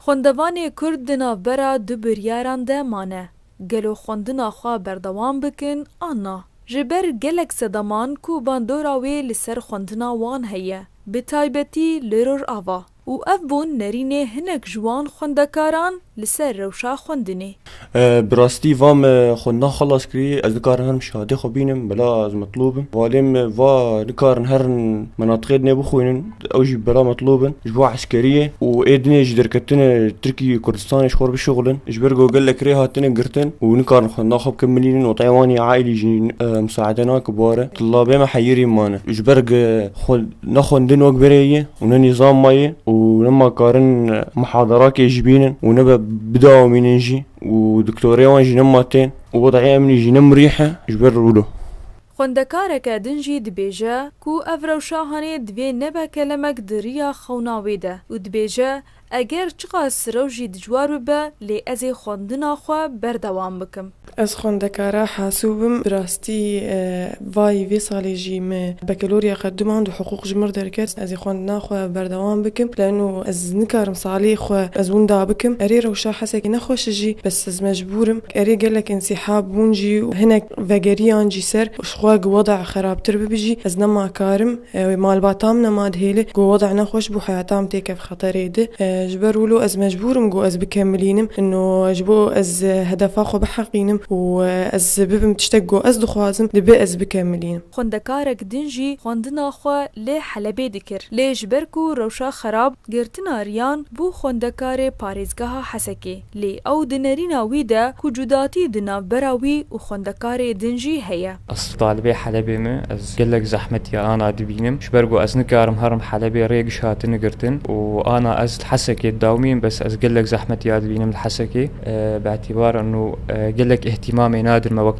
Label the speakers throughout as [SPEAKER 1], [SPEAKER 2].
[SPEAKER 1] Xwendevanê Kurd di navbera du biryaran de mane, gelo xwendina xwe berdewam bikin an na. Ji ber gelek sedaman ku bandora wê li ser xwendina wan heye, bi taybetî li Rojava û ev bûn nerînê hinek ji wan xwendekaran li ser rewşa xwendinê. Bi rastî va me xwe na xelas kirî ez nikarim herim şehadê xwe bînim bila ez metlûb im. Valê me va nikarin herin menatiqê dinê bixwînin ew jî bila metlûb in ji bo eskeriyê û ê dinê ji derketinê Tirkiyê Kurdistanê ji xwe re bişuxulin ji ber ku gelek rê hatine girtin û nikarin xwe na xwe bikin milînin wateyê wan yê aîlî jî misaede nake bare. Tillabê me heyirî mane ji ber ku xwe Ne xwendin wek verê ye û ne nîzam ma ye û ne ma karin muhadarakê jî bînin û ne be bidawamînin jî û diktorê wan jî ne ma tên û wedayê emnî jî ne mirîh e ji ber rûlo. Xwendekareke din jî dibêje ku ev rewşa hanê divê nebe kelemek di riya xewna wê de û dibêje Eger çiqas rew jî dicwar bibe lê ez ê xwendina xwe berdewam bikim. Ez xwendekara hasûb im. Bi rastî vayî vê salê jî me bekelorya qedimand û hiqûq ji mir derket. Ez ê xwendina xwe berdewam bikim leeno ez nikarim salê xwe ez winda bikim. Erê rewşa hesekî nexweş jî bes ez mecbûr im. Erê gelek însîhab bûn jî û hinek vegeriyan jî ser ji xwe ku weda xerabtir bibe jî ez nema karim. Malbata min nema dihêle ku weda nexweş bû heyata min têkevxwe. Xeterê di. Ji ber wilo ez mecbûr im ku ez bikemilînim ino ji bo ez hedefa xwe biheqînim û ez bibim tiştek ku ez dixwazim, dibe ez bikemilînim. Xwendekarek din jî xwendina xwe li Helebê dikir, lê ji ber ku rewşa xerab, girtina riyan bû xwendekarê parêzgeha Hesekê. Lê ew di nerîna wî de ku cudatî di navbera wî û xwendekarê din jî heye. Ez talibê Helebê me. Ez gelek zehmetiya ana dibînim. Ji ber ku ez nikarim herim Helebê rê giş hatine girtin û ana ez li Hesekê dawîm bes ez gelek zehmetiya dibînim li Hesekê. Bi etîbar nû gelek îhtîmamê nadir me wek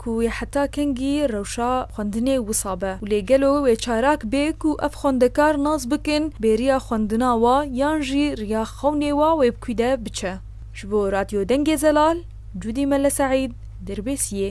[SPEAKER 1] ku wê heta kengî rewşa xwendinê wisa be û lê gelo wê çarak bê ku ev xwendekar nas bikin bêriya xwendina wa yan jî riya xewnê wa wê bi kû de biçe. Ji bo Radyo Dengê Zelal, Cûdî Mele Seîd, Dirbêsiyê.